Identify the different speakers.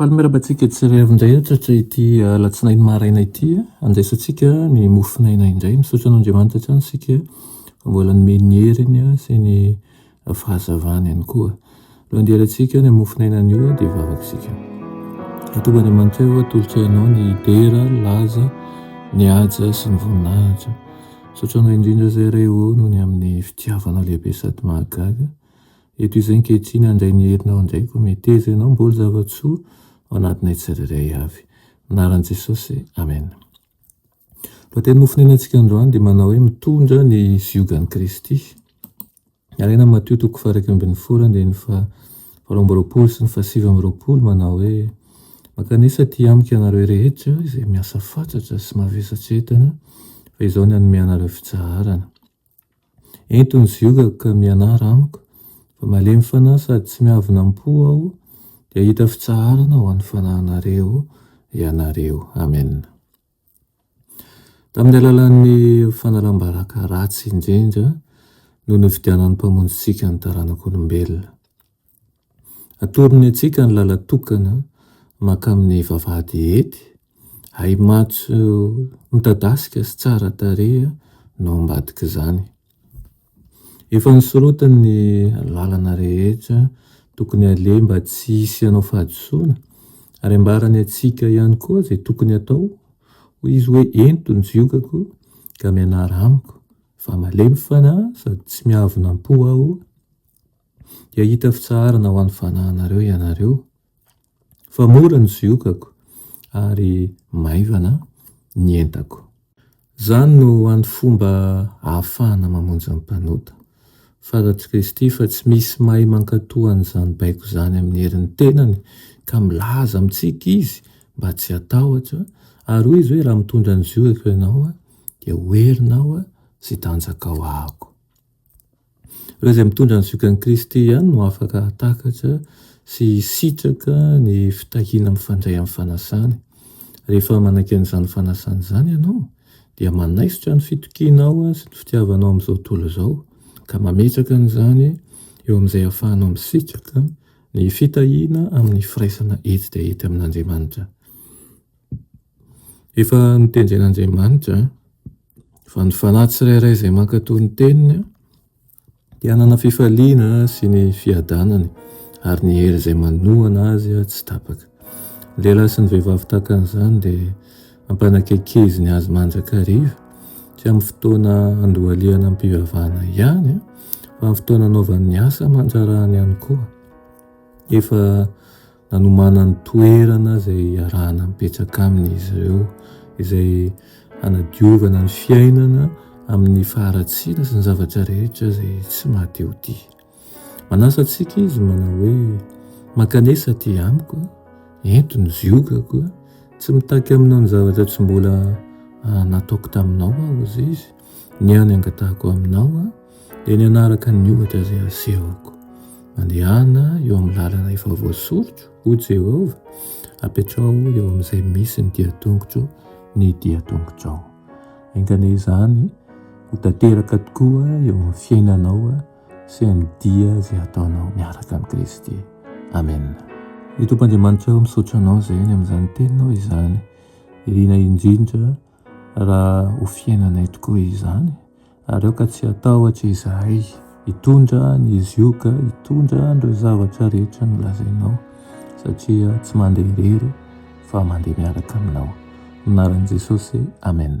Speaker 1: Faly miarahaba antsika tsirairay avy indray hatratra ity alatsinainy maraina ity. Andraisantsika ny mofonaina indray. Misaotra an'Andriamanitra hatrany isika fa mbola nomeny ny heriny sy ny fahazavany ihany koa. Alohan'ny hialantsika ny mofonaina anio dia vavaka isika. Atombo Andriamanitra eo atolotra ianao ny dera, ny laza, ny haja sy ny voninahitra. Misaotra anao indrindra izay iray o noho ny amin'ny fitiavanao lehibe sady mahagaga. Eto izay ankehitriny handray ny herinao indray koa meteza ianao mboly zava-tsoa ao anatinay tsirairay avy. Anaran'i Jesosy, Amen. Lohateny nofonenantsika androany dia manao hoe mitondra ny ziogan'i Kristy. Alaina amin'ny Matio toko fahairaika ambin'ny folo andininy fa valo amby roapolo sy ny fahasivy amby roapolo manao hoe mankanesa aty amiko ianareo rehetra izay miasa fatratra sy mavesatra entana fa izao ny hanome anareo fitsaharana. Ento ny ziogako ka mianara amiko, fa malemy fanahy sady tsy miavona am-po aho, dia hahita fitsaharana ho an'ny fanahinareo ianareo. Amena. Tamin'ny alalan'ny fanalam-baraka ratsy indrindra no nividianan'ny Mpamonjintsika ny taranak'olombelona. Atorony antsika ny lalan-tokana mankamin'ny vavahady hety, ahi-maitso midadasika sy tsara tarehy no ambadik'izany. Efa nosorotany ny lalana rehetra tokony aleha mba tsy hisy hanao fahadisoana ary ambarany antsika ihany koa izay tokony hatao, hoy izy hoe ento ny jiokako ka mianara amiko fa malemy fanahy sady tsy miavonam-po aho, dia hahita fitsaharana ho an'ny fanahinareo ianareo, fa mora ny ziokako ary maivana ny entako. Izany no ho an'ny fomba ahafahana mamonjy ny mpanota. Fantatr'i Kristy fa tsy misy mahay mankatò an'izany baiko izany amin'ny herin'ny tenany, ka milaza amintsika Izy mba tsy hatahotra, ary hoy Izy hoe, Raha mitondra ny ziokako ianao, dia ho herinao sy tanjakao Aho. Ireo izay mitondra ny zokiny Kristy ihany no afaka hahatakatra sy hisitraka ny fitahiana mifandray amin'ny fanasany. Rehefa manaiky an'izany fanasana izany ianao dia manaisotra ny fitokianao sy ny fitiavanao amin'izao tontolo izao ka mametraka an'izany eo amin'izay ahafahanao misitraka ny fitahiana amin'ny firaisana etsy dia etsy amin'Andriamanitra. Efa notendren'Andriamanitra Fa ny fanahy tsirairay izay mankatò ny teniny dia hanana fifaliana sy ny fiadanany ary ny hery izay manohana azy tsy tapaka. Ny lehilahy sy ny vehivavy tahaka an'izany dia ampanakaikeziny azy mandrakariva tsy amin'ny fotoana andohalihana am-pivavahana ihany fa amin'ny fotoana anaovany ny asa aman-drarahany ihany koa. Efa Nanomanany toerana izay hiarahana mipetraka aminy izy ireo, izay hanadiovana ny fiainana amin'ny faharatsiana sy ny zavatra rehetra izay tsy mahate-ho-tia. Manasa antsika izy manao hoe, Mankanesa aty amiko, ento ny ziogako, tsy mitaky aminao ny zavatra tsy mbola nataoko taminao aho, hoy izy, ny ahy no angatahako aminao. dia ny hanaraka ny ohatra izay asehoko. Mandehana eo amin'ny lalana efa voasorotro, ho Jehovah, apetraho eo amin'izay misy ny dian-tongotro ny dian-tongotrao. Engane izany ho tanteraka tokoa eo amin'ny fiainanao sy amin'ny dia izay ataonao miaraka amin'i Kristy. Amen. Ny Tompo Andriamanitra eo misaotra anao izay ny amin'izany teninao izany. Irina indrindra raha ho fiainanay tokoa izany Ary aoka tsy hatahotra izahay hitondra ny zioga, hitondra an'ireo zavatra rehetra nolazainao, satria tsy mandeha irery fa mandeha miaraka aminao. Anaran'i Jesosy, Amen.